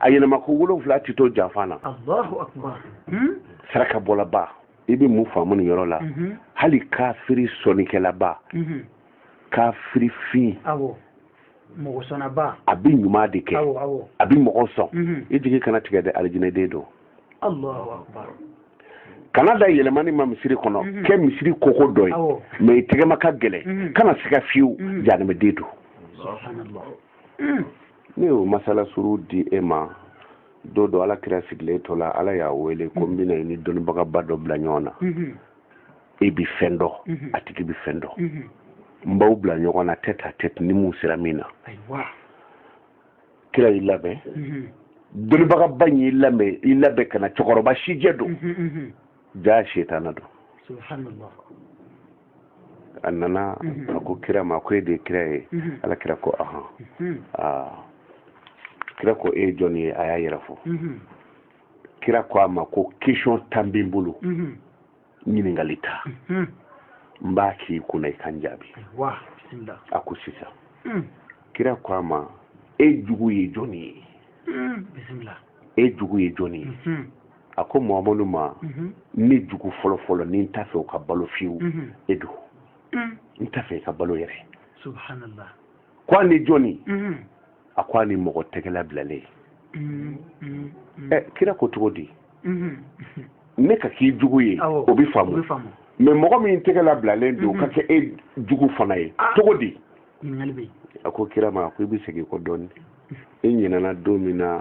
a yɛlɛma ko wolonfila ti to janfan na allahu akbar saraka bɔlaba i bɛ mun faamu nin yɔrɔ la mhm. hali kafiri sɔnnikɛlaba mhm. kafiri fin mɔgɔ sɔnnaba a bɛ ɲuman de kɛ a bɛ mɔgɔ sɔn mhm. i jigi kana tigɛ dɛ alijinɛden don kana da yɛlɛmani ma misiri kɔnɔ kɛ misiri koko dɔ ye mɛ i tɛgɛma ka gɛlɛn kana siga fiyewu janɛmɛden don ne y'o masala surun di e ma don dɔ ala kira sigilen tola ala y'a wele ko n bɛna i ni dɔnnibagaba dɔ bila ɲɔgɔn na e bi fɛn dɔ a tigi bi fɛn dɔ n b'aw bila ɲɔgɔn na tête à tête ni mun sera min na kira y'i labɛn dɔnnibagaba in y'i labɛn ka na cɛkɔrɔba sijɛ don jaa sitana don subhanallah a nana mhm. a ko kira ma ko e de ye kira ye mhm. ala kira ko ahan mhm. ah. kira ko e ye jɔn ye a y'a yɛrɛ fɔ kira ko a ma ko question tan bɛ n bolo ɲininkali tan n b'a k'i kunna i ka n jaabi a ko sisan mm. kira ko a ma e jugu ye jɔn ye bisimila e jugu ye jɔn ye a ko mahamadu ma mhm. ne jugu fɔlɔ fɔlɔ ni n t'a fɛ o ka balo fiyewu mhm. e don mm. n t'a fɛ i ka balo yɛrɛ subhanallah ko ani jɔni mhm. a ko ani mɔgɔ tɛgɛ labilalen mm, mm, ɛ kira ko cogo di ne ka k'i jugu ye o bɛ faamu mɛ mɔgɔ min tɛgɛ labilalen don ka kɛ e jugu fana ye ah. cogo di a ko kira ma a ko i bɛ segin kɔ dɔɔni e ɲinɛna don min na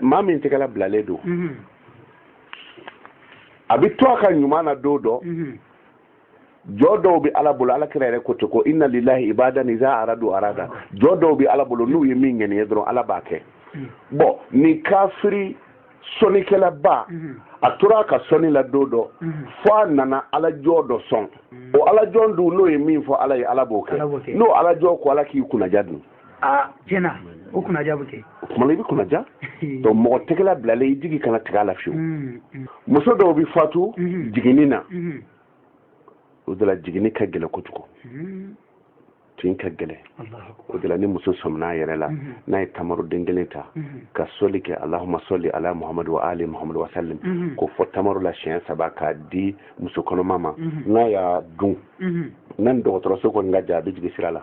maa min tɛgɛ labilalen don mhm. a bɛ to a ka ɲuman na don dɔ mhm. jɔn dɔw bɛ ala bolo ala kira yɛrɛ ko ten ko inna lillahi ibadan iza aradu arada jɔn dɔw bɛ ala bolo n'u ye min ŋaniya dɔrɔn ala b'a kɛ mhm. bɔn nin kafiri sɔnnikɛlaba a tora a ka sɔnni la don dɔ fo a nana ala jɔn dɔ sɔn o ala jɔn dun n'o ye min fɔ ala ye ala b'o kɛ n'o ala jɔn ko ala k'i kunnaja dun aa tiɲɛ na o kunnaja bɛ kɛ o tuma na i bɛ kunnaja donc mɔgɔ tɛgɛ labilalen i jigi kana tigɛ a la fiyewu mm, mm. muso dɔw bɛ fatu mm-hmm. jiginni na mm-hmm. o de la jiginni ka gɛlɛn kojugu mm-hmm. tin ka gɛlɛn o de la ni muso sɔminna a yɛrɛ la n'a ye tamaroden kelen ta ka sɔli kɛ alahuma sɔli ala muhamadu wa ali muhamadu wa salim k'o fɔ tamaro la siɲɛ saba k'a di muso kɔnɔma ma n'a y'a dun n'a ni dɔgɔtɔrɔso kɔni ka jan a bɛ jigin sira la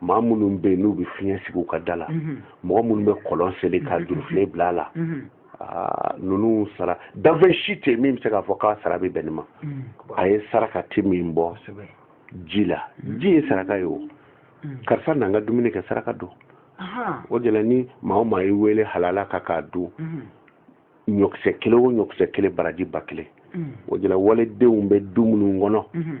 maa minnu bɛ yen n'u bɛ fiɲɛ sigi u ka da la mhm. mɔgɔ minnu bɛ kɔlɔn seli ka mhm. jurufilen bila a la mhm. ah, ninnu sara danfɛn si tɛ min bɛ se k'a fɔ k'a sara bɛ bɛn nin ma a ye saraka ti min bɔ ji la ji ye saraka ye o karisa n'an ka dumuni kɛ saraka don o de la ni maa o maa y'i wele halala kan k'a dun ɲɔkisɛ kelen o ɲɔkisɛ kelen baraji ba kelen mm. o de la waledenw bɛ du minnu kɔnɔ mm-hmm.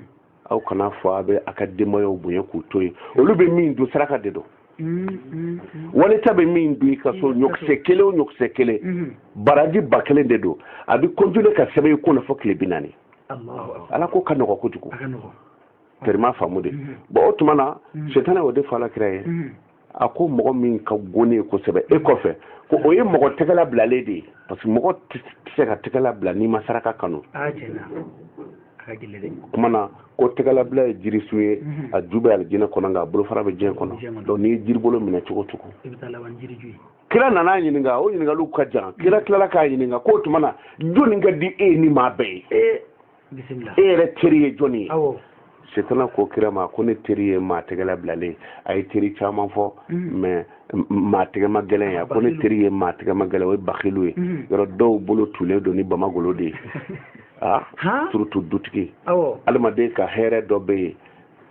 aw kana fɔ a bɛ a ka denbayaw bonya k'u to yen olu bɛ min dun saraka de don mm-hmm. waleta bɛ min dun i ka so mm-hmm. ɲɔkisɛ kelen o ɲɔkisɛ kelen baraji ba kelen de don a bɛ continuer ka sɛbɛn i kun na fo tile bi naani ala ko ka nɔgɔ kojugu tɛrɛ m'a faamu de bon o tuma na setana y'o de fɔ ala kira ye a ko mɔgɔ min ka go ne ye kosɛbɛ e kɔfɛ ko o ye mɔgɔ tɛgɛla bilalen de ye parce que mɔgɔ tɛ se ka tɛgɛla bila n'i ma saraka kanu kuma na ko tɛgɛlabila ye jirisun ye mhm. a ju bɛ alijinɛ kɔnɔ nka a bolofara bɛ diɲɛ kɔnɔ donc n'i ye jiribolo minɛ cogo o cogo kira nana a ɲininka o ɲininkaliw ka jan kira tilala k'a ɲininka k'o tuma na jɔni ka di e ni maa bɛɛ ye e yɛrɛ teri ye jɔni ye setana ko kira ma ko ne teri ye maa tɛgɛla bilalen ye a ye teri caman fɔ mm-hmm. mais maa tɛgɛma gɛlɛn ye a ko ne teri ye maa tɛgɛma gɛlɛn o ye bakilu ye mm-hmm. yɔrɔ dɔw bolo tulen don ni bamagolo de ye a ah, surtout dutigi adamaden ka hɛrɛ dɔ bɛ yen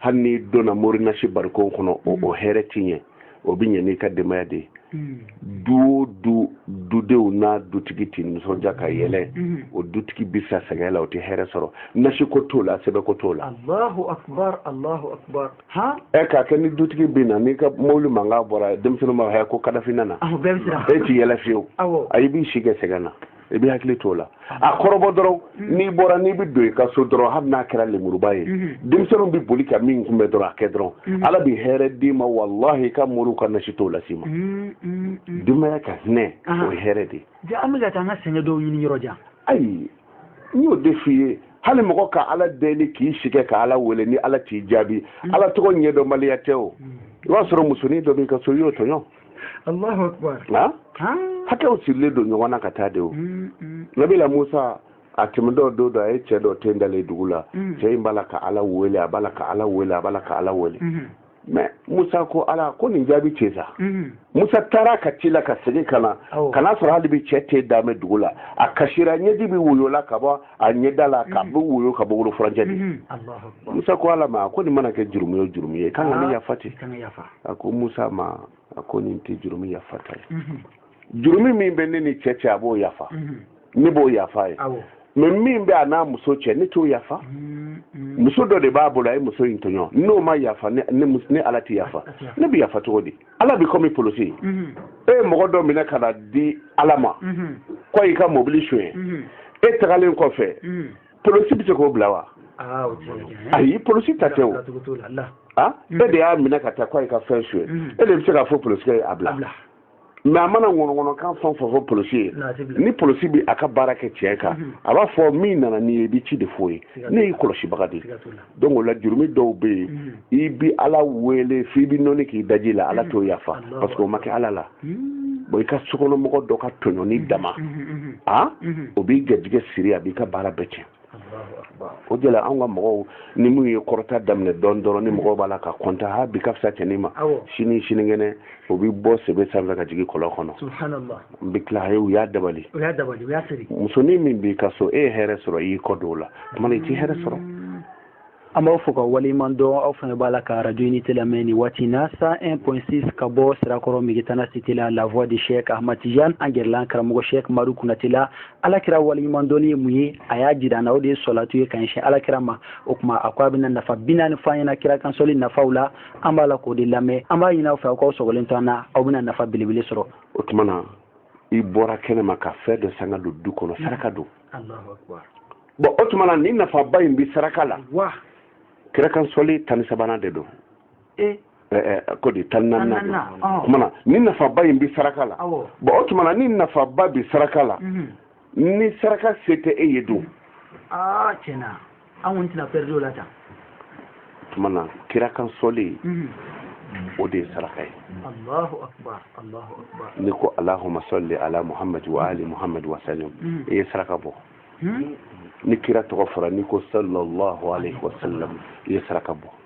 hali n'i donna morinasi barikon kɔnɔ o mm. hɛrɛ ti ɲɛ o bɛ ɲɛ n'i ka denbaya de ye mm. du o du dudenw n'a dutigi tɛ nisɔndiya ka yɛlɛ mm. o dutigi bɛ sa sɛgɛn la o tɛ hɛrɛ sɔrɔ nasi ko t'o la sɛbɛn ko t'o la. alahu akubar alahu akubar. han. ɛ k'a kɛ ni dutigi bɛ na n'i ka mobili mankan bɔra denmisɛnninw b'a fɔ ko kadafi nana. awɔ bɛɛ bɛ siran. e t'i yɛlɛ fiyewu. awɔ. ayi i b'i si kɛ sɛgɛn na. i b'i hakili t'o la a kɔrɔbɔ dɔrɔn mm-hmm. n'i bɔra n'i bɛ don i ka so dɔrɔn hali n'a kɛra lemuruba ye mm-hmm. denmisɛnninw bɛ boli ka min kunbɛn dɔrɔn a kɛ dɔrɔn mm-hmm. ala bɛ hɛrɛ d'i ma walahi i ka moriw ka nasi t'o las'i ma denbaya ka hinɛ ah. o ye hɛrɛ de ye an bɛ ka taa an ka sɛgɛn dɔw ɲini yɔrɔ jan ayi n y'o de f'i ye hali mɔgɔ ka ala deli k'i si kɛ ka ala wele ni ala t'i jaabi ala tɔgɔ ɲɛdɔnbaliya tɛ o i b'a sɔrɔ musonin dɔ b'i ka so i y'o tɔɲɔ Allahu akbar hakɛw sirilen don ɲɔgɔn na ka taa de o mm, mm. nabila musa a tɛmɛtɔ don dɔ a ye cɛ dɔ ten dalen dugu la mm. cɛ in b'a la ka ala wele a b'a la ka ala wele a b'a la ka ala wele mm-hmm. mais musa ko ala ko nin jaabi cɛ sa mm-hmm. musa taara ka tila ka segin ka na ka n'a sɔrɔ hali bi cɛ ten dalen bɛ dugu la a kasira ɲɛji bi woyo la ka bɔ a ɲɛda la k'a bɛ woyo ka bɔ wolo furancɛ de musa ko ala ma a ko nin mana kɛ jurumu o jurumu ye kan ka nin yafa ten a ko musa ma a ko nin tɛ jurumu yafa ta ye jurumu min bɛ ne ni cɛ cɛ a b'o yafa ne b'o yafa a ye mais min bɛ a n'a muso cɛ ne t'o yafa muso dɔ de b'a bolo a ye muso in tɔɲɔ n'o ma yafa ne ala tɛ yafa ne bɛ yafa cogo di ala bɛ kɔmi polosi mhm. e ye mɔgɔ dɔ minɛ ka na di ala ma mhm. ko a y'i ka mobili sonyɛ mhm. e tagalen kɔfɛ polosi bɛ se k'o bila wa ah, ayi polosi ta tɛ o ah, e de y'a minɛ ka taa ko a y'i ka fɛn sonyɛ e de bɛ se k'a fɔ polosi ye a bila mais a mana ŋɔnɔŋɔnɔkan fɛn fɛn fɔ polisi ye ni polisi bɛ a ka baara kɛ tiɲɛ kan a b'a fɔ min nana n'i ye i bɛ ci de f'o ye ne y'i kɔlɔsibaga de ye donc o la jurumi dɔw bɛ yen mm. i bi ala wele f'i bi nɔni k'i daji la ala mm. t'o yafa parce que o ma kɛ ala la mm. bon i ka sokɔnɔmɔgɔ dɔ ka tɔɲɔni dama a o b'i garijɛgɛ siri a b'i ka baara bɛɛ tiɲɛ o de la anw ka mɔgɔw ni min ye kɔrɔta daminɛ dɔɔni dɔrɔn ni mɔgɔw b'a la ka kɔntan ha bi ka fisa cɛnin ma sini sinikɛnɛ o bɛ bɔ sebe sanfɛ ka jigin kɔlɔn kɔnɔ n bɛ tila u y'a dabali musonin min b'i ka so e ye hɛrɛ sɔrɔ i y'i kɔ don o la tuma i t'i hɛrɛ sɔrɔ mm. an b'aw fo k'aw waleɲuman dɔn aw fana b'a la ka radio unité lamɛn nin waati na 101.6 ka bɔ sirakɔrɔ megetana cité la la voix de cheikh ahmad tijan an gɛrɛla karamɔgɔ cheikh madu kunate la ala kira waleɲuman dɔnni ye mun ye a y'a jira an na o de ye sɔlatu ye ka ɲɛsin ala kira ma o tuma a ko a bɛna nafa bi naani fɔ an ɲɛ na kira kan sɔli nafaw la an b'a la k'o de lamɛn an b'a ɲini aw fɛ aw k'aw sɔgɔlen to an na aw bɛna nafa belebele sɔrɔ o tuma na i bɔra kɛnɛ ma ka fɛn dɔ san k'a don du kɔnɔ saraka don bon o tuma na ni nafaba in bɛ saraka la kira kan sɔli tan ni sabanan de don e? ko di tan ni naaninan o tuma na ni nafaba in bɛ saraka la bon o tuma na ni nafaba bɛ saraka la mhm. ni saraka se tɛ e ye don ah, an kɔni tɛna perdre o la tan tuma na kira kan sɔli mhm. o de ye saraka ye allahu akbar n'i ko allahumma salli ala muhammadi wa ali muhammadi wa sallim mhm. i ye saraka bɔ mhm. ni kira tɔgɔ fɔra n'i ko sallallahu alaihi wa sallam i ye saraka bɔ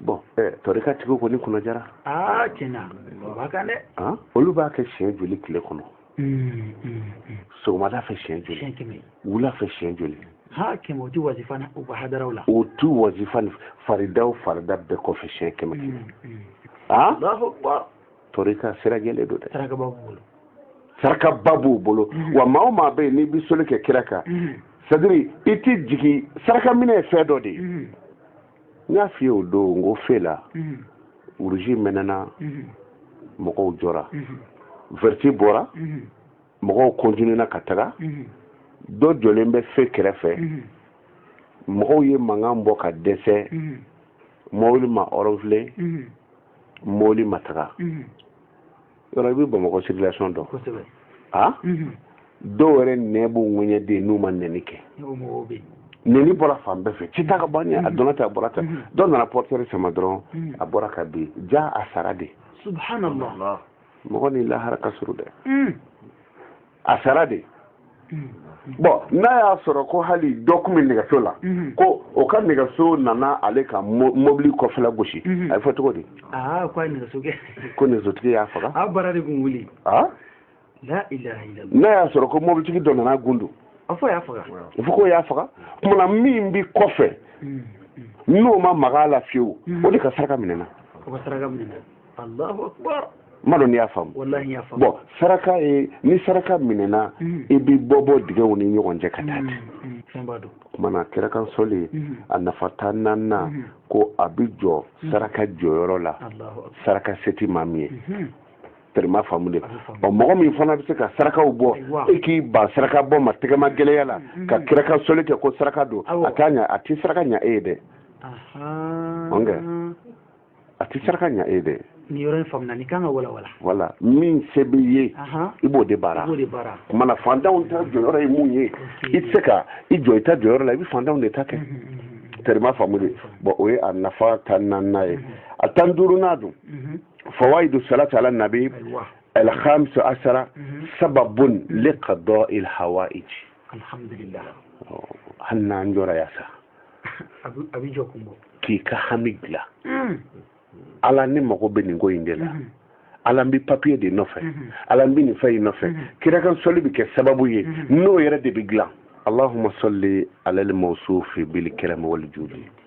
bon tɔrika tigi kɔni kunna diyara aa tiɲɛna o b'a kan dɛ olu b'a kɛ siɲɛ joli tile kɔnɔ sɔgɔmada fɛ siɲɛ joli wula fɛ siɲɛ joli ha kɛmɛ o ti wazifa u ka hadaraw la o tu wazifa faridaw farida bɛɛ kɔfɛ siɲɛ kɛmɛ kɛmɛ aa tɔrika sira jɛlen don dɛ saraka b'a bolo sarakaba b'u bolo wa maa o maa bɛ yen n'i bɛ sɔli kɛ kira kan c'est-à-dire i t'i jigi saraka minɛ ye fɛn dɔ de ye n y'a f'i ye o don n ko fe la wuruji mɛnɛna mɔgɔw jɔra vɛriti bɔra mɔgɔw kɔntinuna ka taga dɔ jɔlen bɛ fe kɛrɛfɛ mɔgɔw ye mankan bɔ ka dɛsɛ mɔbili ma ɔrɔnfile mɔbili ma taga yɔrɔ i bɛ bamakɔ circulation dɔn kosɛbɛ a dɔw yɛrɛ nɛ b'u ŋɛɲɛden n'u ma nɛni kɛ nɛni bɔra fan bɛɛ fɛ k'i ta ka bɔ ɲɛ a donna tan a bɔra tan dɔ nana pɔritiyɛri sama dɔrɔn a bɔra ka bin ja a sara dɛ subhanallah mɔgɔ ni lahara ka surun dɛ a sara dɛ bɔn n'a y'a sɔrɔ ko hali dɔ tun bɛ nɛgɛso la ko o ka nɛgɛso nana ale ka mobili kɔfɛla gosi a bɛ fɔ cogo di ko nɛgɛsotigi y'a faga n'a y'a sɔrɔ ko mobilitigi dɔ nana gundu a fɔ ko y'a faga kumana min bɛ kɔfɛ n'o ma maga la fiyewu o de ka saraka minɛna m'a dɔn n'i y'a faamu bɔn saraka ye ni saraka minɛna mm. i bɛ bɔ bɔ dingɛw ni ɲɔgɔn cɛ ka taa mm, mm, ten kumana kira kan sɔli a nafa tan naaninan ko a bɛ jɔ saraka jɔyɔrɔ la saraka se tɛ maa min ye terima faamu dɛ ɔ mɔgɔ min fana bɛ se ka sarakaw bɔ e k'i ban saraka bɔ ma tɛgɛmagɛlɛya la ka kira kan sɔli kɛ ko saraka don a t'a ɲa a tɛ saraka ɲa e ye dɛ a tɛ saraka ɲa e ye dɛ nin yɔrɔ in faamuna ni kan ka walawala wala min se b'i ye i b'o de baara kumana fantanw ta jɔyɔrɔ ye mun ye i tɛ se ka i jɔ i ta jɔyɔrɔ la i bɛ fantanw de ta kɛ terima faamu dɛ bɔn o ye a nafa tan naaninan ye a tan duurunan dun fawaidu salati ala nabi alhamisa asara sababun liqada il hawaij alhamdulillah oh, hali n'an jɔra yan sa a bɛ jɔ kun bɔ k'i ka hami dilan hmm. ala ne mago bɛ nin ko in de la hmm. ala n bɛ papiye de nɔfɛ hmm. ala n bɛ nin fɛn in nɔfɛ kira kan sɔli bɛ kɛ sababu ye n'o yɛrɛ de bɛ dilan allahumma salli ala al-mawsufi bil karam wal judi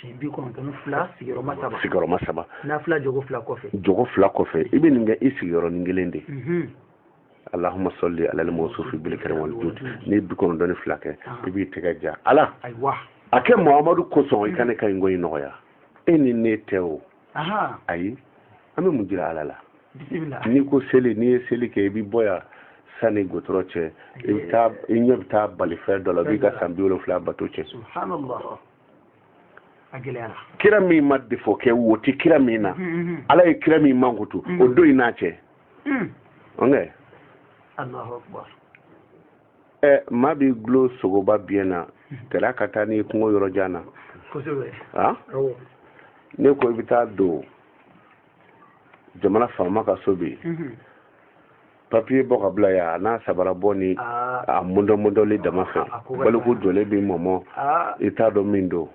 si bi kɔnɔntɔn fila sigiyɔrɔma saba sigiyɔrɔma saba n'a fila jɔ ko fila kɔfɛ jɔ ko fila kɔfɛ i bɛ nin kɛ i sigiyɔrɔnin kelen de mhm. allahumma salli ala al-mawsufi bil karam wal judi n'i ye bi kɔnɔntɔn ni fila kɛ ah. i b'i tɛgɛ ja ala a kɛ muhamadu kosɔn i ka ne ka nin ko in nɔgɔya e ni ne tɛ o ayi an bɛ mun jira ala la n'i ko seli n'i ye seli kɛ i bɛ bɔ yan sani gudɔrɔn cɛ i bɛ taa i ɲɛ bɛ taa balifɛn dɔ la b'i ka san bi wolonfila bato cɛn kira min ma defo kɛ wo tɛ kira min na mm-hmm, mm-hmm. ala ye kira min mankutu mm-hmm. o don i n'a cɛ mm. ɛ maa b'i gulo sogoba biɲɛ na kɛra ka taa n'i kungo yɔrɔ jan na a ne ko i bɛ taa don jamana faama ka so bi mhm. papiye bɔ ka bila yan a n'a sabara bɔ ni ah. a mundɔmundɔli dama fɛ ah, baliku jɔlen b'i mɔmɔ ah. i t'a dɔn min don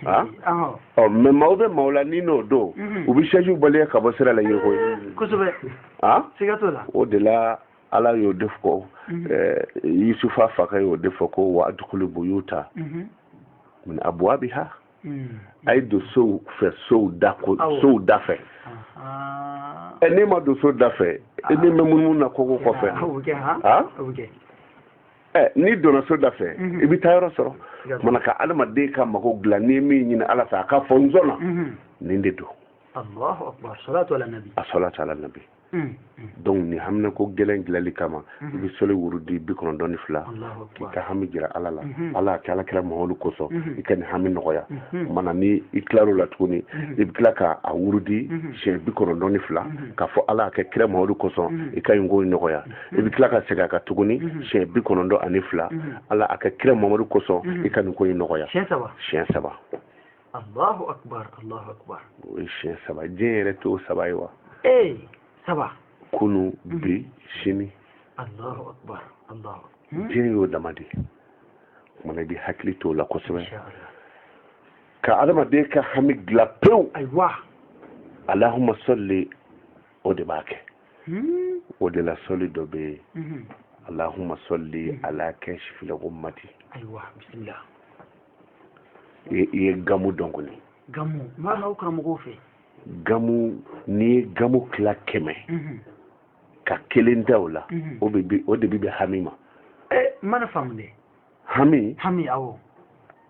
Ah? Ah. ɔ oh, mɛ maaw bɛ maaw la ni n'o don mhm. u bɛ sɛjiw baliya ka bɔ sira la yiriko ye kosɛbɛ ah? siga t'o la o de la ala y'o de fɔ mhm. eh, yusufa fakɛ y'o de fɔ ko wa adukulu buyuta mhm. min abuwabiha mhm. a ye don sow fɛ sow da ko sow da fɛ ɛ n'e ma don so da fɛ e na mɛn munumunu na koko kɔfɛ ha ɛ n'i donna so da fɛ i bɛ taa yɔrɔ sɔrɔ mana ka adamaden ka mago dilan n'i ye min ɲini ala fɛ a ka fɔ n sɔnna nin de don a salatu ala nabi Mm. donc ni haminako gɛlɛn dilanni kama i mm-hmm. bɛ sɔli wurudi bi kɔnɔntɔn ni fila k'i ka hami jira ala la mm-hmm. ala kɛ ala kira muhamadu kosɔn mm-hmm. i ka nin hami nɔgɔya mana ni i tilar'o la tuguni i bɛ tila ka a wurudi siɲɛ bi kɔnɔntɔn ni fila k'a fɔ ala a kɛ kira muhamadu kosɔn i ka nin ko nɔgɔya i bɛ tila ka segin a kan tuguni siɲɛ bi kɔnɔntɔn ani fila ala a kɛ kira muhamadu kosɔn i ka nin ko in nɔgɔya siɲɛ saba Allahu akbar Allahu akbar o ye siɲɛ saba diɲɛ yɛrɛ t'o saba ye wa ee saba kunu mhm. bi sini Allahu akbar Allahu hmm? diɲɛ y'o dama de ye mana i bɛ hakili t'o la kosɛbɛ ka adamaden ka hami dilan pewu ayiwa alahuma sɔli o de b'a kɛ hmm? o de la sɔli dɔ bɛ yen mhm. alahuma sɔli mhm. ala kasifili gumati ayiwa bisimila i ye gamu dɔn kɔni gamu mana aw karamɔgɔw fɛ gamu n'i ye gamu tila kɛmɛ mhm. ka kelen ta o la mhm. o de bi bɛn hami ma eh, mana faamu dɛ hami hami awɔ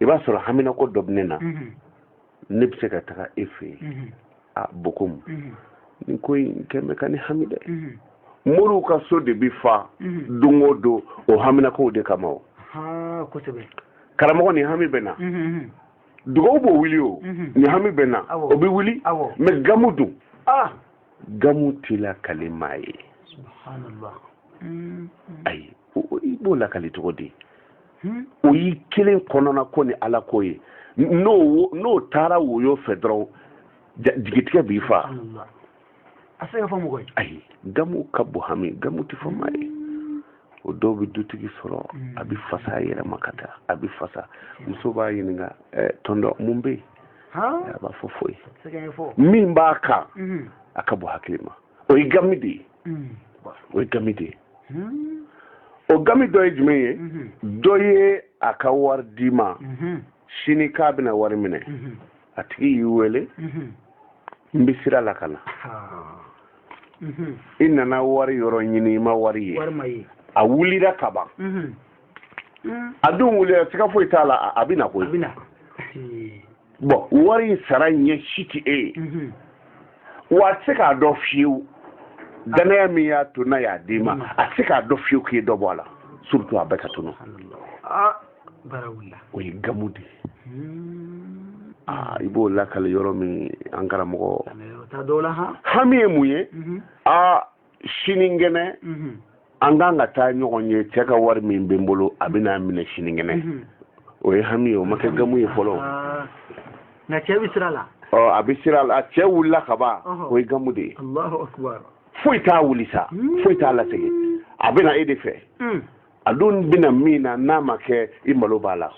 i b'a sɔrɔ haminako dɔ bɛ ne na mhm. ne bɛ se ka taga e fɛ yen a bokomu nin ko in kɛlen bɛ ka ne hami dɛ moriw ka so de bɛ fa don o don o haminakow de kama o karamɔgɔ nin hami bɛ n na dugaw b'o wuli o nin hami bɛ n na o bɛ wuli mɛ gamu dun gamu tɛ lakali maa ye ayi i b'o lakali cogo di hmm? o y'i kelen kɔnɔna ko ni ala ko ye n'o n'o taara woyo fɛ dɔrɔn jigitigɛ b'i fa a tɛ se ka fɔ mɔgɔ ye ayi gamu ka bon hami gamu tɛ fɔ maa ye o dɔw bɛ dutigi sɔrɔ hmm. a bɛ fasa a yɛrɛ ma ka taa a bɛ fasa muso b'a ɲininka eh, tɔntɔn mun bɛ yen a b'a fɔ foyi min b'a kan hmm. a ka bon hakili ma o ye gamu de ye o ye gami de ye o gami dɔ ye jumɛn ye dɔ ye a ka wari d'i ma sini k'a bɛna wari minɛ a tigi y'i wele n bɛ sira la ka na i nana wari yɔrɔ ɲini i ma wari ye a wulira ka ban a dun wulila siga foyi t'a la a bɛ na koyi bon wari in sara ɲɛ si tɛ e ye mhm. wa a tɛ se k'a dɔn fiyewu danaya min y'a to n'a y'a d'i ma mhm. a tɛ se k'a dɔn fiyewu k'i ye dɔ bɔ a la surtout a bɛɛ ka tunu ah, o ye gamu de ye hmm. ah, i b'o lakali yɔrɔ min an karamɔgɔ hami ye mun ye aa mhm. ah, sinikɛnɛ an kan ka taa ɲɔgɔn ye cɛ ka wari min bɛ n bolo a bɛ n'a minɛ sinikɛnɛ o ye hami ye o ma kɛ gamu ye fɔlɔ nka cɛ bɛ sira la a bɛ sira la cɛ wulila ka ban o ye gamu de ye foyi t'a wuli sa foyi t'a lasegin a bɛ na e de fɛ a dun bɛ na min na n'a ma kɛ i malo b'a la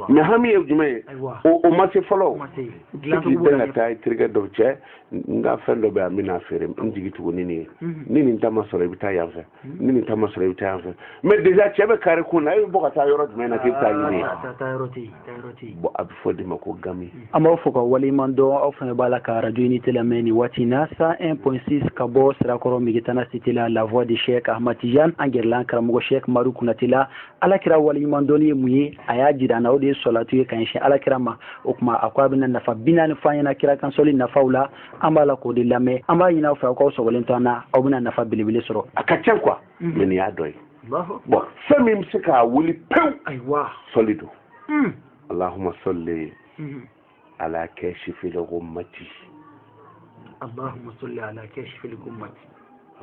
mais hami ye jumɛn ye o ma se fɔlɔ k'i bɛn ka taa i terikɛ dɔ cɛ n ka fɛn dɔ bɛ yan n bɛna feere n jigi tugu ni nin ye mhm. ni nin ta ma sɔrɔ i bɛ taa yan fɛ mhm. ni nin ta ma sɔrɔ i bɛ taa yan fɛ mais déjà cɛ bɛ kare kun na e bɛ bɔ ka taa yɔrɔ jumɛn na k'i bɛ taa ɲini yen bon a bɛ fɔ o de ma ko gami an b'aw fo k'aw waleɲuman dɔn aw fana b'a la ka radio unité lamɛn nin waati na 101 point 6 ka bɔ sirakɔrɔ megetana cité la la voix de chek ahmad tijan an gɛrɛla an karamɔgɔ chek umaru kunate la ala kira waleɲuman dɔnni ye mun ye a y'a jira an na o de ye sɔlatu ye ka ɲɛsin ala kira ma o tuma a ko a bɛna nafa bi naani fɔ an ɲɛna kira kan sɔli nafaw la an b'a la k'o de lamɛn an b'a ɲini aw fɛ aw k'aw sɔgɔlen to an na aw bɛna nafa belebele sɔrɔ a ka ca quoi mais nin y'a dɔ ye bon fɛn min bɛ se k'a wuli pewu sɔli don hmm. alahuma sɔli hmm. ala kasifil gumati alahuma sɔli ala kasifil gumati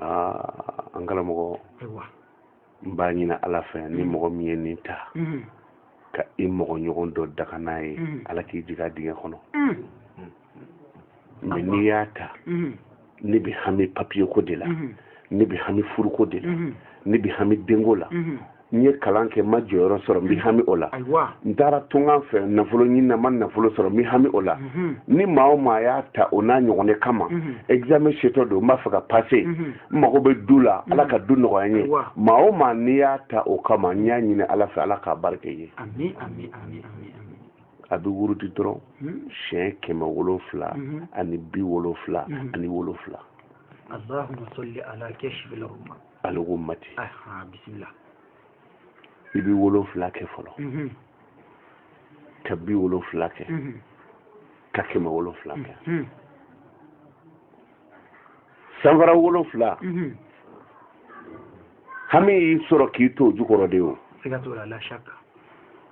aa an karamɔgɔ n b'a ɲini ala fɛ ni hmm. mɔgɔ min ye nin ta ka i mɔgɔ ɲɔgɔn dɔ danga n'a ye ala k'i jigin a dingɛ kɔnɔ mais n'i y'a ta mhm. ne bɛ hami papiye ko de la mhm. ne bɛ hami furuko de la mhm. ne bɛ hami denko la n ye kalan kɛ n ma jɔyɔrɔ sɔrɔ n bɛ hami o la n taara tunkan fɛ nafolo ɲini na n ma nafolo sɔrɔ n bɛ hami o la ni maa o maa y'a ta o n'a ɲɔgɔnna kama examen setɔ don n b'a fɛ ka pase n mago bɛ du la ala ka du nɔgɔya n ye maa o maa n'i y'a ta o kama n y'a ɲini ala fɛ ala k'a barika i ye a bɛ wurudi dɔrɔn hmm. siɲɛ kɛmɛ wolonfila hmm. ani bi wolonfila hmm. ani wolonfila allahumma salli ala kashfil ghummati aha bismillah i bɛ wolonfila kɛ fɔlɔ ka bi wolonfila kɛ ka kɛmɛ wolonfila kɛ sanfara wolonfila hami y'i sɔrɔ k'i to o jukɔrɔ de o siga t'o la la shaka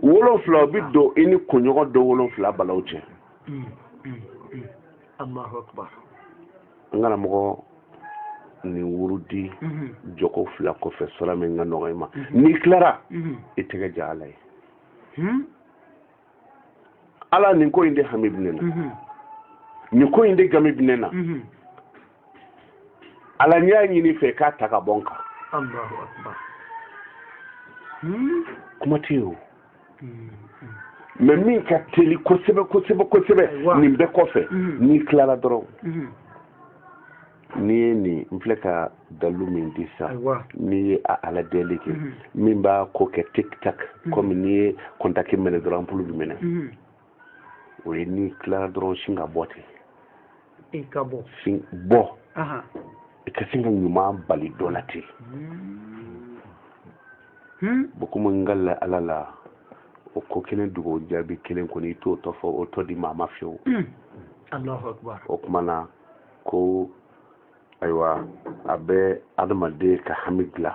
wolonfila o bi don i ni kunɲɔgɔn don wolonfila balaw cɛ mm, mm, mm. n karamɔgɔ nin wurudi mm-hmm. jɔko fila kɔfɛ sura min ka nɔgɔ i ma mm-hmm. n'i tilara mm-hmm. i tɛgɛ ja ala ye hmm? ala nin ko in de hami bɛ ne na nin ko in de gami bɛ ne na ala ne y'a ɲini i fɛ k'a ta ka bɔ n kan hmm? kuma tɛ yen o hmm, hmm. mɛ min ka teli kosɛbɛ kosɛbɛ kosɛbɛ nin bɛɛ kɔfɛ n'i tilara dɔrɔn n'i ye nin n filɛ ka dalilu min di sa n'i ye a ala deli kɛ min b'a ko kɛ tik tak kɔmi n'i ye kɔntaki minɛ dɔrɔn anpulu bi mɛnɛ o ye n'i tilara dɔrɔn sin ka bɔ ten i ka bɔ sin bɔ i ka sin ka ɲuman bali dɔ la ten bokuma n ka la ala la o ko kelen dugawu jaabi kelen kɔni i t'o tɔ fɔ o tɔ di maa ma fiyewu o kuma na ko ayiwa a bɛ adamaden ka hami dilan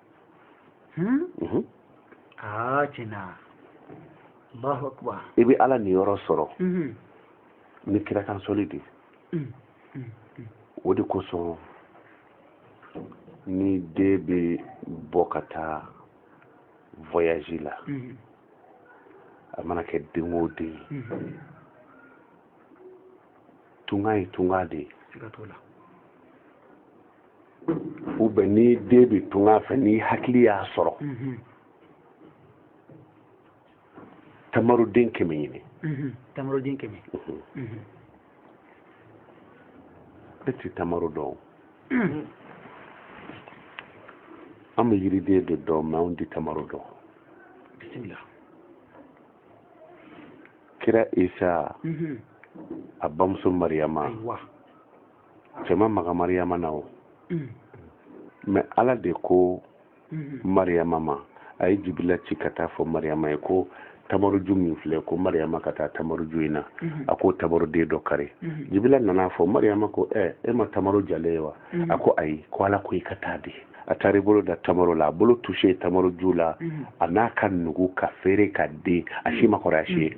Hmm? Mhm. Ah, i bɛ ala niyɔrɔ sɔrɔ mhm. ni kirakansɔli de mm, mm, mm. o de kosɔn ni den bɛ bɔ ka taa voyage la mhm. a mana kɛ den o den ye tunga ye tunga de ye ou bien ni den bɛ tunga fɛ ni hakili y'a sɔrɔ mhm. tamaroden kɛmɛ ɲini mhm. tamaroden kɛmɛ mhm. e tɛ tamaro dɔn an bɛ yiriden de dɔn mɛ anw tɛ tamaro dɔn bisimila kira isa a bamuso mariyama cɛ ma maga mariyama na o mm. mɛ ala de ko mm-hmm. mariyama ma a ye jibila ci ka taa fɔ mariyama ye ko tamaruju min filɛ ko mariyama ka taa tamaruju in na mm-hmm. a ko tamaruden dɔ kari mm-hmm. jibila nana fɔ mariyama ko ɛ e ma tamaru jalen ye wa a ko ayi ko ala ko i ka taa dɛ a taara i bolo da tamaro la a bolo tuse tamaro ju la a na ka nugu ka feere ka den a si ma kɔrɔ a si ye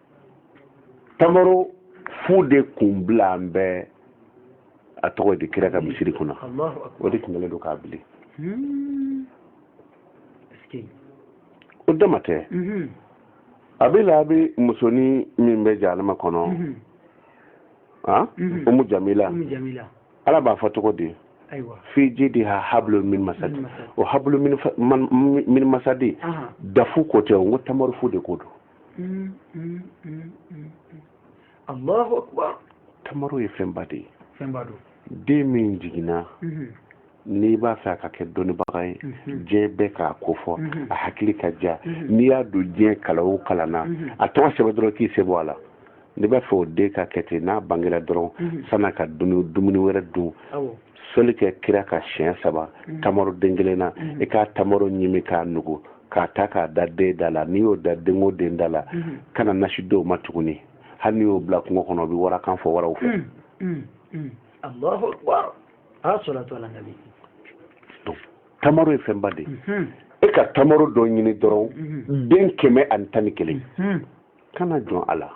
tamaro fu de kun bilalen bɛ a tɔgɔ di kira ka hmm. misiri kunna o de tun kɛlen don k'a bili hmm. o dama tɛ hmm. a bɛ la a bɛ musonin min bɛ jahanama kɔnɔ ah? umu jamila ala b'a fɔ cogo di fi jidiha hablun min masadi o hablu min masadi dafu ko tɛ o n ko tamaru fu de ko don Mm, mm, mm, mm, mm. allahu akbar tamaro ye fɛnba de ye fɛnba don den min jiginna Mhm, n'i b'a fɛ a ka kɛ dɔnnibaga ye Mhm. diɲɛ bɛɛ k'a ko fɔ Mhm. a hakili ka diya Mhm. n'i y'a don diɲɛ kalan o kalan na Mhm. a tɔgɔ sɛbɛn dɔrɔn k'i sen bɔ a la n'i b'a fɛ o den ka kɛ ten n'a bangera dɔrɔn mhm. san'a ka dumuni wɛrɛ dun sɔli kɛ kira kan siɲɛ saba mhm. tamaro den kelen na mhm. i ka tamaro ɲimi k'a nugu k'a ta k'a da den da la n'i y'o da den o den da la kana nasi d'o ma tuguni hali n'i y'o bila kungo kɔnɔ o bɛ warakan fɔ waraw fɛ mm, mm, mm. allahu akbar tamaro ye fɛnba de ye e ka tamaro dɔ ɲini dɔrɔn den kɛmɛ ani tan ni kelen kana jɔn a la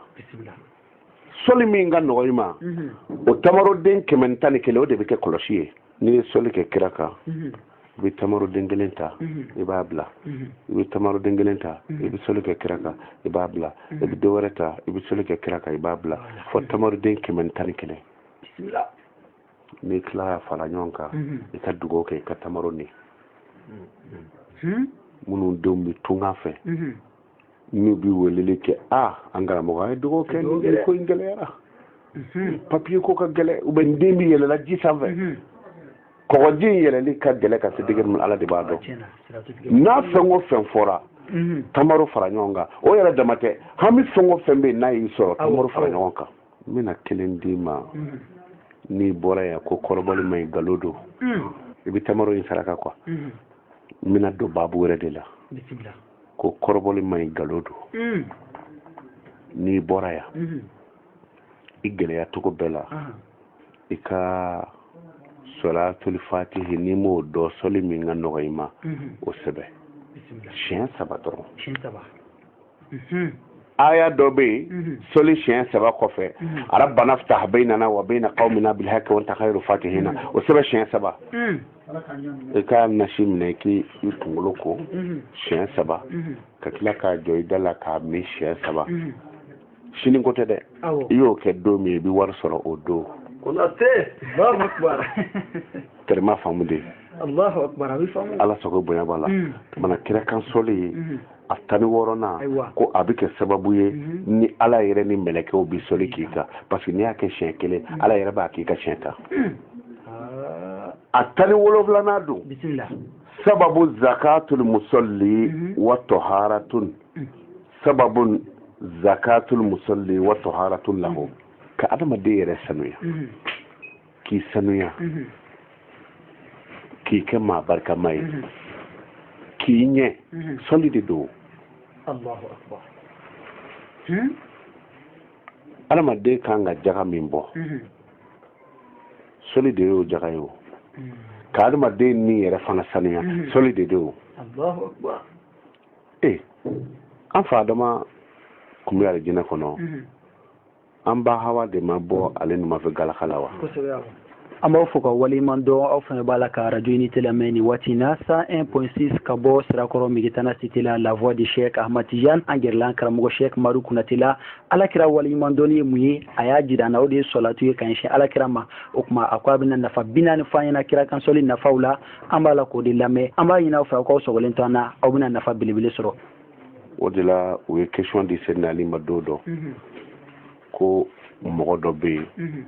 sɔli min ka nɔgɔ i ma mhm. o tamaroden kɛmɛ tan ni kelen o de bɛ kɛ kɔlɔsi ye n'i ye sɔli kɛ kira kan mhm. i bɛ tamaroden kelen ta mhm. i b'a bila i bɛ tamaroden kelen ta i bɛ sɔli kɛ kira kan i b'a bila i bɛ dɔ wɛrɛ ta i bɛ sɔli kɛ kira kan i b'a bila fo tamaroden kɛmɛ tan ni kelen n'i tilala fara ɲɔgɔn kan i ka dugawu kɛ i ka tamaro ni minnu denw bɛ tunga fɛ n'u bɛ weleli kɛ a an karamɔgɔ an ye dugawu kɛ nin ko in gɛlɛyara mhm. papiye ko ka gɛlɛ u bɛ n den bi yɛlɛla ji sanfɛ mhm. kɔgɔji in yɛlɛli ka gɛlɛ ka se degere min ala de b'a dɔn n'a fɛn o fɛn fɔra mhm. tamaro fara ɲɔgɔn kan o yɛrɛ dama tɛ hami fɛn o fɛn bɛ yen n'a y'i sɔrɔ tamaro fara ɲɔgɔn kan n bɛna kelen d'i ma n'i bɔra yan ko kɔrɔbɔli man ɲi nkalon don i bɛ tamaro in saraka kuwa n bɛna don baabu wɛrɛ de la ko kɔrɔbɔli ma ɲi nkalon don mm. n'i bɔra yan mm-hmm. i gɛlɛya cogo bɛɛ la uh-huh. i ka sɔlatuli fatihi n'i m'o dɔn sɔli min ka nɔgɔ i ma mm-hmm. o sɛbɛ siɲɛ saba dɔrɔn mm-hmm. aya dɔ bɛ yen sɔli siɲɛ saba kɔfɛ rabbana ftah baynana wa bayna qawmina bil haqqi wa anta khayru fatihina o sɛbɛ siɲɛ saba mm. i ka nasi minɛ k'i kunkolo ko mhm. siɲɛ saba mhm. ka tila k'a jɔ i da la k'a min siɲɛ saba mhm. sini ko tɛ dɛ i y'o kɛ don min i bɛ wari sɔrɔ o don allahu akbar teri m'a faamu de allahu akbar ala sago bonya b'a la mana kira kan sɔli ye a tan ni wɔɔrɔnan ko a bɛ kɛ sababu ye mhm. ni ala yɛrɛ ni mɛlɛkɛw bɛ sɔli k'i kan parce que n'i y'a kɛ siɲɛ kelen mhm. ala yɛrɛ b'a k'i kan siɲɛ tan ah. a tan ni wolonwulanan don sababu zakatul musalli mhm. wa taharatun sababu zakatul musalli wa taharatun lahu ka adamaden yɛrɛ sanuya k'i sanuya mhm. k'i kɛ maa barikama ye mhm. k'i ɲɛ mhm. sɔli de don hmm? adamaden kan ka jaga min bɔ sɔli de y'o jaga ye o hmm. ka adamaden ni yɛrɛ fana sanuya sɔli de don o ee an fa adama kun bɛ alijinɛ kɔnɔ an ba hawa de ma bɔ ale numafɛ galaka la wa an b'aw fo ka waleɲuman dɔn aw fana b'a la ka radio unité lamɛn nin waati na 101.6 ka bɔ sirakɔrɔ megetana cité la la voix de cheikh ahmad tijan an gɛrɛla an karamɔgɔ cheikh maru kunate la alakira waleɲuman dɔnni ye mun ye a y'a jira an na o de ye sɔlatu ye ka ɲɛsin alakira ma o tuma a ko a bɛna nafa bi naani fɔ an ɲɛna kira kan sɔli nafaw la an b'a la k'o de lamɛn an b'a ɲini aw fɛ aw k'aw sɔgɔlen to an na aw bɛna nafa belebele sɔrɔ o de la u ye question di seydina ali ma don dɔ mhm. ko mɔgɔ dɔ bɛ yen mhm.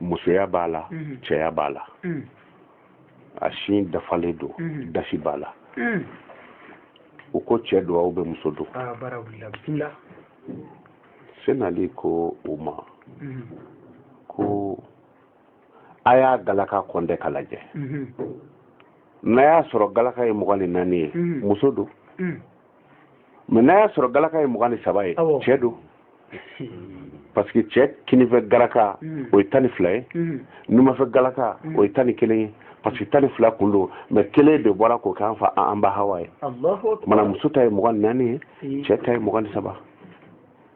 musoya b'a la mhm. cɛya b'a la a sin dafalen don dasi b'a la u ko cɛ don ou bien muso don ah, seydina ali ko u ma ko a y'a galaka kɔntɛ ka lajɛ mhm. n'a y'a sɔrɔ galaka ye mugan ni naani ye mhm. muso don mhm. mais n'a y'a sɔrɔ galaka ye mugan ni saba ye cɛ don parce que cɛ kinifɛ galaka o ye tan ni fila ye numafɛ galaka o ye tan ni kelen ye parce que tan ni fila kun don mais kelen de bɔra k'o k'an fa an ba hawa ye mana muso ta ye mugan ni naani ye cɛ ta ye mugan ni saba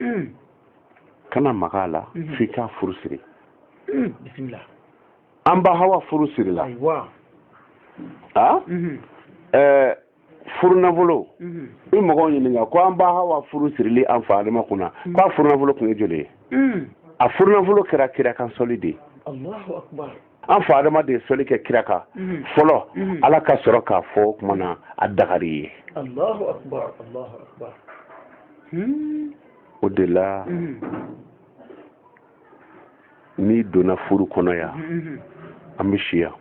mm. kana maga a la mm-hmm. f'i k'a furu siri mm, an ba hawa furu sirila a mm-hmm. eh, furunafolo mm-hmm. i mɔgɔw ɲininka ko an ba hawa furu sirili an fa adama kunna mm. k'a furunafolo kun ye joli ye mm. a furunafolo kɛra kira kan sɔli de ye an fa adama de ye sɔli kɛ kira kan mhm. fɔlɔ mhm. ala ka sɔrɔ k'a fɔ o kuma na a dagar'i ye Allahu akbar Allahu akbar. o de la mhm. n'i donna furu kɔnɔ yan an bɛ si yan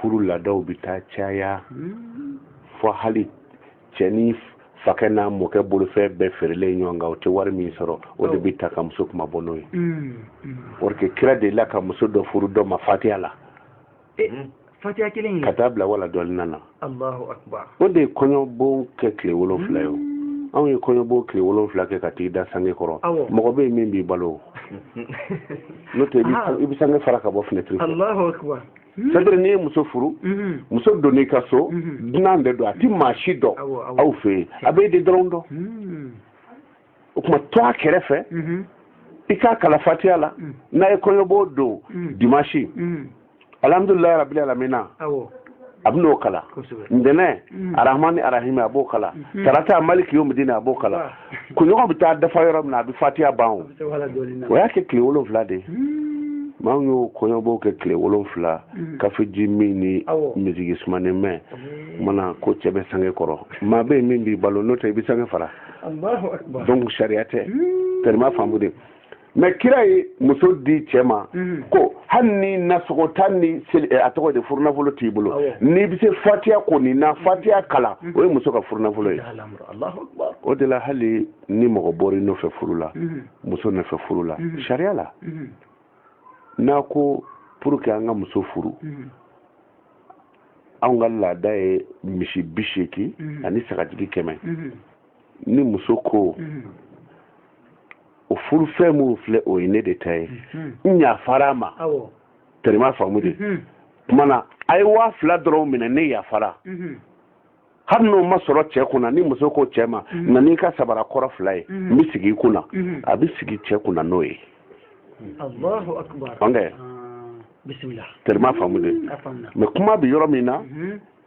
furu laadaw bɛ taa caya hmm. fɔ hali cɛ ni fakɛ n'a mɔkɛ bolofɛn bɛɛ feerelen ɲɔgɔn kan o tɛ wari min sɔrɔ o de bɛ ta ka muso kunmabɔ n'o ye parce que kira delila ka muso dɔ furu dɔ ma fatiya la fatiya kelen ka taa bila wala dɔɔlina o de ye kɔɲɔbon kɛ tile wolonfila ye o anw ye kɔɲɔbon tile wolonfila kɛ ka t'i da sange kɔrɔ mɔgɔ bɛ yen min b'i balo n'o tɛ i bɛ sange fara ka bɔ fenêtre fɛ Hmm. c'est-à-dire n'i ye muso furu hmm. muso donn'i ka so hmm. dunan de don a ti maa si dɔn aw fɛ yen a b'e de dɔrɔn dɔn o tuma to a kɛrɛfɛ i k'a kala fatiya la n'a ye kɔɲɔbon don dimanche alhamdulilayi rabili alamina a bɛ n'o kala ntɛnɛn arahmani arahimi a b'o kala tarata maliki yomidini a b'o kala kunɲɔgɔn bɛ taa dafa yɔrɔ min na a bɛ fatiya ban o y'a kɛ tile wolonfila de ye hmm. maa min y'o kɔɲɔbon kɛ tile wolonfila hmm. kafeji min ni miziki sumanin mɛn hmm. kumana ko cɛ bɛ sange kɔrɔ maa bɛ yen min b'i balo n'o tɛ i bɛ sange fara donc sariya tɛ tɛrɛma faamu de mais kira ye muso di cɛ ma mhm. ko hali ni nasɔngɔ tan ni eh, a tɔgɔ de furunafolo t'i bolo n'i bɛ se fatiya kɔni na fatiya mhm. kala mhm. o ye muso ka furunafolo ye o de la hali ni mɔgɔ bɔr'i nɔfɛ furu la muso nɔfɛ furu la sariya la n'a ko pour que an ka muso furu anw ka laada ye misi bi seegin ani sagajigi kɛmɛ ni muso ko o furufɛn minnu filɛ o ye ne de ta ye n yafar'a ma tɛrɛma faamu de kumana a ye waa fila dɔrɔn minɛ ne yafara hali n'o ma sɔrɔ cɛ kunna ni muso ko cɛ ma na n'i ka sabara kɔrɔ fila ye n bɛ sigi i kunna a bɛ sigi cɛ kunna n'o ye Allahu akbar bisimila tɛrɛma faamu de mais kuma bɛ yɔrɔ min na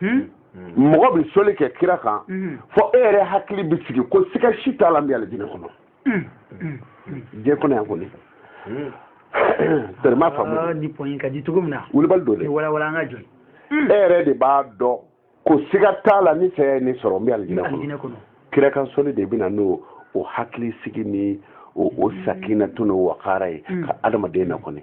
hmm? hmm. mɔgɔ bɛ soli kɛ kira kan hmm. fɔ e yɛrɛ hakili bɛ sigi ko siga si t'a la n bɛ alijinɛ kɔnɔ diɲɛ kɔnɔ yan kɔni tɛrɛma faamu ah, ni pɔnyi ka di cogo min na wulibali don dɛ walawala an ka jɔ e yɛrɛ de b'a dɔn ko siga t'a la ni saya ye ne sɔrɔ n bɛ alijinɛ kɔnɔ kira kan soli de bɛ na n'o hakili sigi ni o sakinatu n'o wakara ye ka adamaden na kɔni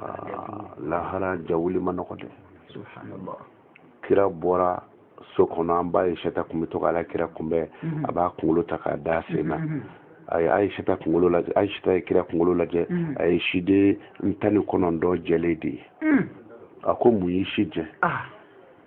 ah, lahara jawuli ma nɔgɔ dɛ subhanallah kira bɔra so kɔnɔ an ba ayisata kun bɛ to k'ala kira kunbɛn mhm. a b'a kunkolo ta k'a da sen na mhm. a ye ayisata kunkolo lajɛ ayisata ye kira kunkolo lajɛ mhm. a ye siden tan ni kɔnɔntɔn jɛlen de ye a ko mun y'i si jɛ ah.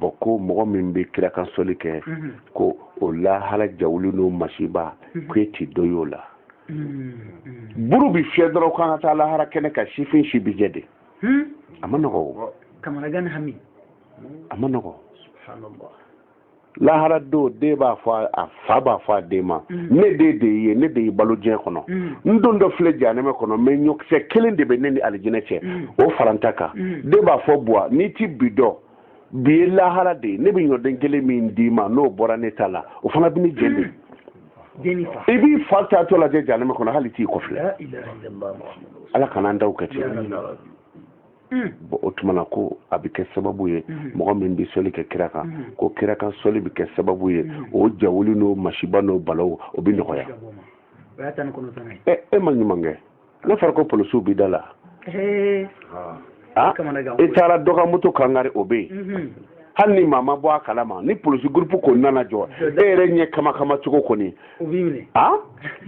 bɔn ko mɔgɔ min bɛ kira kan soli kɛ mhm. ko o lahara jawuli n'o masiba mhm. ko e ti dɔ y'o la mhm. buru bi fiyɛ dɔrɔn k'an ka taa lahara kɛnɛ kan sifin si bi jɛ de hmm? a ma nɔgɔ o a ma nɔgɔ lahara don den b'a fɔ a fa b'a fɔ a den ma mm. ne den de ye ne de y'i balo diɲɛ kɔnɔ mm. n dontɔ filɛ janɛmɛ kɔnɔ mɛ ɲɔkisɛ kelen de bɛ ne ni alijinɛ cɛ mm. o fara n ta kan den b'a fɔ buwa n'i ti bi dɔn bi ye lahara de ye ne bɛ ɲɔden kelen min d'i ma n'o bɔra ne ta la o fana bɛ ne jɛ de i b'i fa taatɔ lajɛ janɛmɛ kɔnɔ hali t'i kɔfilɛ ala kana an daw kɛ ten bɔn o tuma na ko a bɛ kɛ sababu ye mɔgɔ min bɛ soli kɛ kira kan ko kira kan soli bɛ kɛ sababu ye o jawuli n'o masiba n'o balaw o bɛ nɔgɔya e ma ɲuman kɛ n'a fɔra ko polisiw b'i da la e taara dɔ ka moto kan kari o bɛ yen hali ni maa ma bɔ a kalama ni polisi gurupu ko nana jɔ e yɛrɛ ɲɛ kama kama cogo kɔni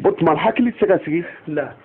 o tuma hakili tɛ se ka sigi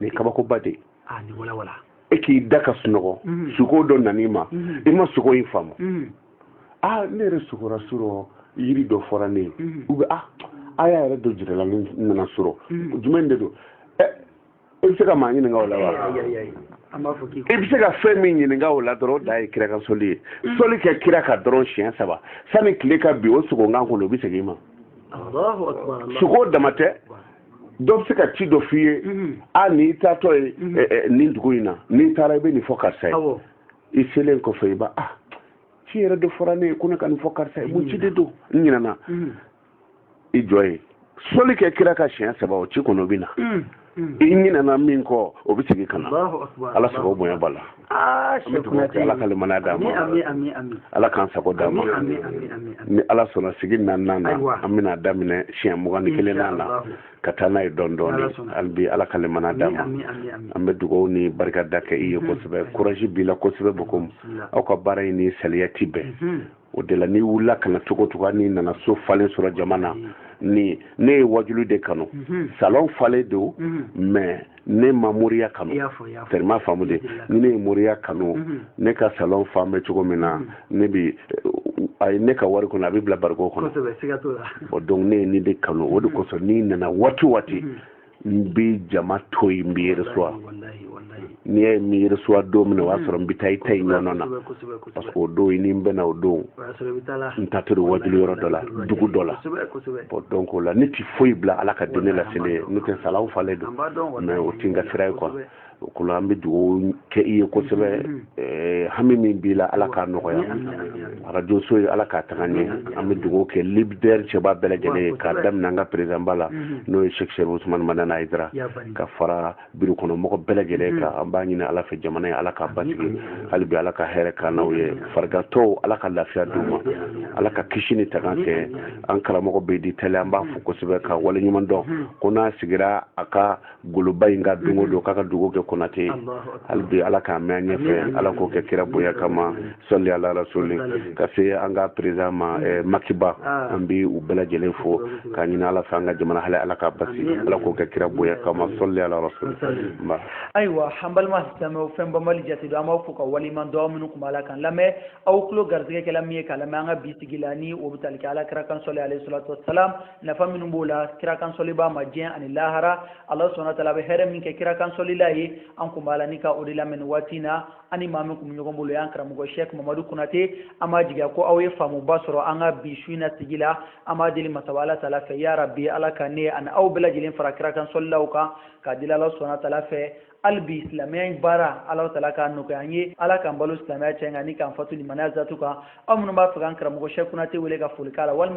nin kabakoba de ah, e k'i da ka sunɔgɔ mhm. sugo dɔ nan'i ma mhm. i ma sugo in faamu mhm. a ah, ne yɛrɛ sugora surɔ yiri dɔ fɔra ne ye u bɛ a ah, aya yɛrɛ dɔ jirala ne na surɔ jumɛn de don eh, i bɛ se ka maa ɲininka o la wa i bɛ se ka fɛn min ɲininka o la dɔrɔn o de ye kira kan soli ye soli kɛ kira kan dɔrɔn siɲɛ saba sani tile ka bin o sugo in kan kɔni o bɛ segin i ma sugo dama tɛ dɔ bɛ se ka ci dɔ f'i ye mhm. a n'i taatɔ ye mhm. eh, eh, nin dugu in na n'i taara i bɛ nin fɔ karisa ye i selen kɔfɛ i b'a ah ci yɛrɛ dɔ fɔra ne ye ko ne ka nin fɔ karisa ye mun ci de don n ɲinɛna mhm. i jɔ i ye soli kɛ kira kan siɲɛ saba o ci kɔni o bɛ na i ɲinɛna min kɔ o bɛ segin ka na ala sago bonya b'a la Ah, an bɛ dugawu kɛ ala ka limaniya d'an ma ala k'an sago d'an ma ni ala sɔnna sigi naaninan na an bɛna daminɛ siɲɛ mugan ni kelen na la ka taa n'a ye dɔɔni dɔɔni hali bi ala ka limaniya d'an ma an bɛ dugawu ni barika da kɛ i ye kosɛbɛ kuraji b'i la kosɛbɛ bon comme aw ka baara in ni saliya ti bɛn o de la n'i wulila ka na cogo o cogo n'i nana so falen sɔrɔ jama na mm. ni ne ye wajulu de kanu mm-hmm. salon falen don mm-hmm. mais ne ma moriya kanu tellement faamu de ni ne ye moriya kanu mm-hmm. ne ka salon fan bɛ cogo min na ne bi a ye ne ka wari kɔnɔ a bɛ bila bariko kɔnɔ donc ne ye nin de kanu o de kosɔn n'i nana waati o waati n bɛ jama to yen n b'i reçoit n'i y'a ye n m'i reçoit don min na o y'a sɔrɔ n bɛ taa i ta in ɲɔgɔn na parce que o don i ni n bɛnna o don n taatɔ wajulu yɔrɔ dɔ la dugu dɔ la bon donc o la ne tɛ foyi bila ala ka dinɛ laseli ɲɛ n'o tɛ salon falen don mais o tɛ n ka sira ye quoi o kɔ an bɛ dugawu kɛ i ye kosɛbɛ mm-hmm. eh, hami min b'i la ala k'a nɔgɔya arajo so ye ala k'a taga ɲɛ mm-hmm. an bɛ dugawu kɛ lidɛri cɛba bɛɛ lajɛlen ye k'a daminɛ an ka perezidanba la mm-hmm. n'o ye shɛk sherifu usumani madani hayidara ka fara biro kɔnɔ mɔgɔ bɛɛ lajɛlen kan an b'a ɲini ala fɛ jamana ye ala k'a basigi hali bi ala ka hɛrɛ k'an n'aw ye farigantɔw ala ka lafiya d'u ma ala ka kisi ni tanga kɛ an karamɔgɔ bɛ di tɛlɛ an b'a fo kosɛbɛ ka waleɲuman dɔn ko n'a sigira a ka goloba in kan don o don k'a ka dugawu kɛ konate hali bi ala k'a mɛn an ɲɛfɛ ala k'o kɛ kira bonya kama sɔli ala rasuli ka se an ka perezidan ma eh, makiba an bi u bɛɛ lajɛlen fo k'a ɲini ala fɛ an ka jamana hali ala k'a basi ala k'o kɛ kira bonya kama sɔli ala rasuli ayiwa an balima silamɛw fɛn banbali jate don an b'aw fo ka waleɲuman dɔn minnu kun b'a la k'an lamɛn aw tulo garisigɛ kɛla min ye k'a lamɛn an ka bi sigi la ni o bɛ tali kɛ ala kira kan sɔli alayhi salatu wasalam nafa minnu b'o la kira kansɔlibaa ma diɲɛ ani lahara ala subhana tala a bɛ hɛrɛ min kɛ kira kansɔlila ye an kun b'a la ni ka o de lamɛn nin waati na an ni maa min kun bɛ ɲɔgɔn bolo y'an karamɔgɔ shɛk mamadu konate an b'a jigiya ko aw ye faamuba sɔrɔ an ka bi su in na sigi la an b'a deli masaba ala tala fɛ ya rabi ala ka ne ani aw bɛɛ lajɛlen fara kira kansɔlilaw kan k'a deli ala subhana tala fɛ hali bi silamɛya in baara ala tala k'a nɔgɔya an ye ala k'an balo silamɛya jɛ kan ni k'an fatu limaniya zatu kan aw minnu b'a fɛ k'an karamɔgɔ shɛk konate wele ka foli k'a la walima